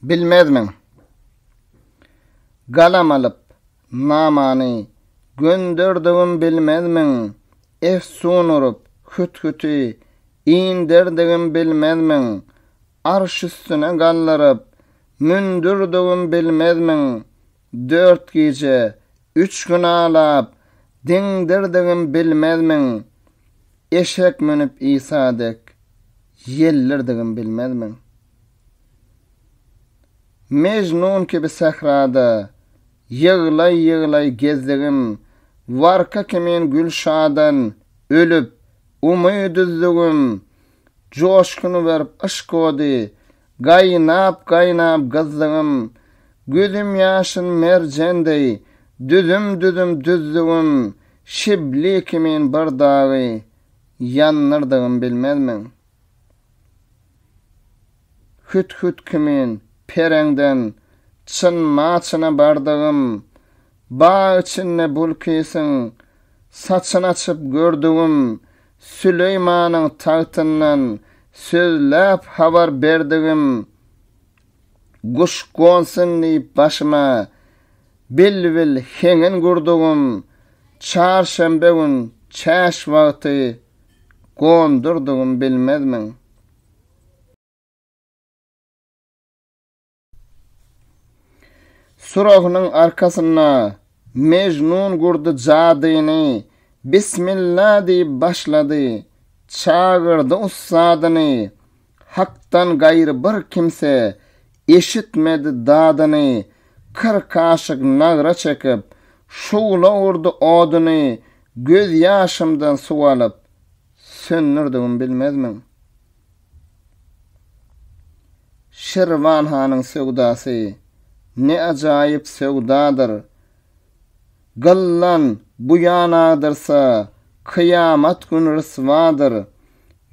Bilmezmiň? Galam alyp, namany Gönderdigim bilmezmiň? Efsun urup, hüthüti Inderdigim bilmezmiň? Arş üstüne galdyryp, Mündürdigim bilmezmiň? Dört gije, üç gün alap, diňdirdigim bilmezmiň? Eşek münüp Isa dek, ýeldirdigim bilmezmiň? Mejnun kibi sährada, ýyglaý-ýyglaý gezdigim, warka kimin Gülşadan ölüp, umyt üzdügim, joşgun berip yşk ody, Gaýnap-gaýnap gyzdygym, Gözüm ýaşyn merjen deý, Düzüm-düzüm düzdügim, Şibli kimin bir dagy Ýandyrdygym bilmezmiň? Hüt-hüt kimin pereňden Çynma-çyna bardygym, Bag içinde Bulkysyň saçyny açyp gördügim, Süleýmanyň tagtyndan sözläp habar berdigim, Guş gonsun diýip başyma bilbil heňin gurdugym, Çarşenbe gün çäş wagty gondurdugym bilmezmiň? Surahynyň arkasynda Mejnun gurdy jadyny, Bismilla diýip başlady, çagyrdy ussadyny, Hakdan gaýry bir kimse eşitmedi dadyny, Kyrk aşyk nagra çekip, şugla urdy oduny, Gözýaşymdan suw alyp, söndürdigim bilmezmiň? Şirwan hanyň söwdasy ne ajaýyp söwdadyr! Gyllan bu ýan agdyrsa, kyýamat güni ryswadyr.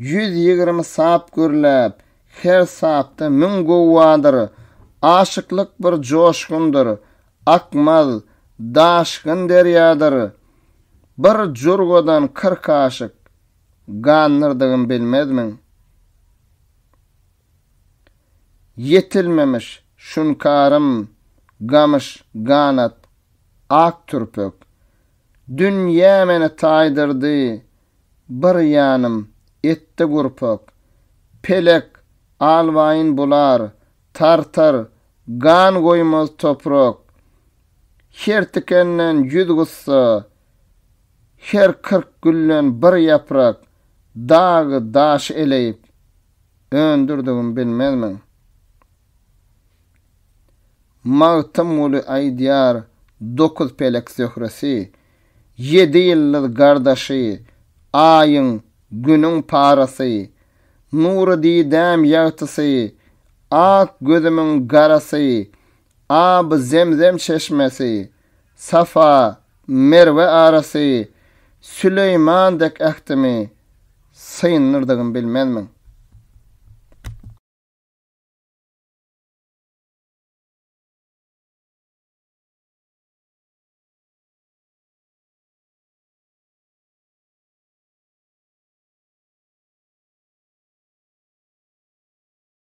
Ýüz ýigrimi sap gürläp, her sapda müň guwwadyr. Aşyklyk bir joşgundyr, akmaz, daşgyn derýadyr. Bir jurgadan kyrk aşyk. Gandyrdygymy bilmezmiň? Ýetilmemiş şunkarym gamyş ganat ak türpek. Dünýä meni taýdyrdy bir ýanym etdi gurpak. Pelek alwaýyn bular, tartar, gan goýmaz toprak. Her tikenden ýüz gussa. Her kyrk gülden bir ýaprak dagy daş eleýip öndürdigim bilmezmiň? Magtymguly aýdýar Dokuz pelek zöhresi, ýedi ýyldyz gardaşy, Aýyň, Günüň parasy, Nury didäm ýagtysy, Ak gözümiň garasy, Aby Zemzem çeşmesi, Safa, Merwe arasy, Süleýman dek ähtimi syndyrdygymy bilmezmiň?